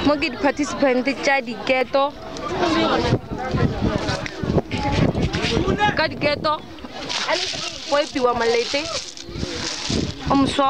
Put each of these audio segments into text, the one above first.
mo ke di-participant tša diketo ka diketo go epiwa malete o moswa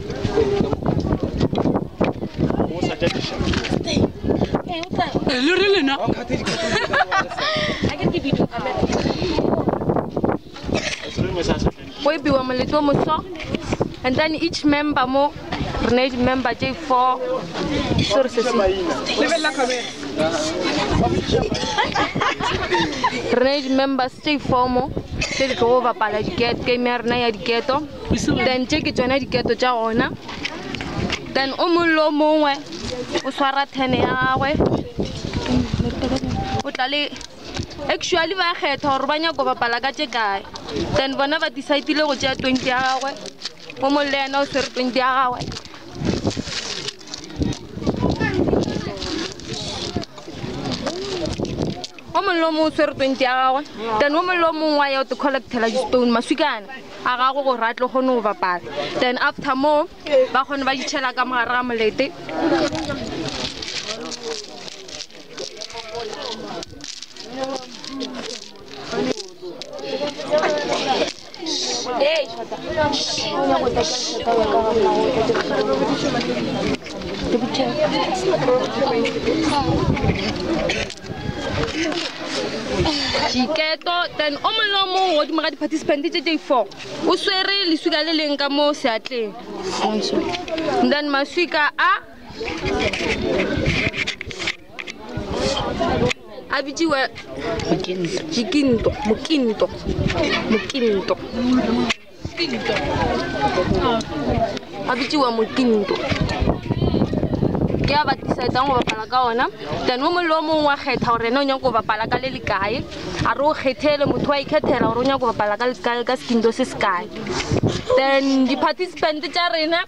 go epiwa moletlo o moso and then each member mo re ne di-member tse four so re sese re ne di-members tse four mo tse di tlo go bapala diketo game ya rena ya diketo then tše ke tsona diketo tša gona then o mong le o mongwe o swara tene ya gagwe o tla le actually ba kgetha gore ba nyako bapala ka tše kae then bona ba decidile go tšea twenty ya gagwe o mong le yena o swere twenty ya gagwe o mongwe le o mongwe o swere twenty ya gagwe then o mongwe le o mongwe wa ya o te collectela di-stone maswikana a gago gore a tlo kgone go bapala then after moo ba kgone ba ditšhela ka mogare ga molete Hey. diketo then o mongwe le o mongwe o dimo ga di-participant tse tse four o swere leswika le leng ka mo seatleng then maswika a a bitsiwe jikinto mokinto mokinto ga bitsiwa mokinto ke a ba decidang go bapala ka ona then o mongwe le o mongwe wa kgetha gore ene o nyako go bapala ka le le kae a re o kgethele motho wa ikgethela gore o nyako go bapala ka le kae ka sekinto se se kae then di-participant tša rena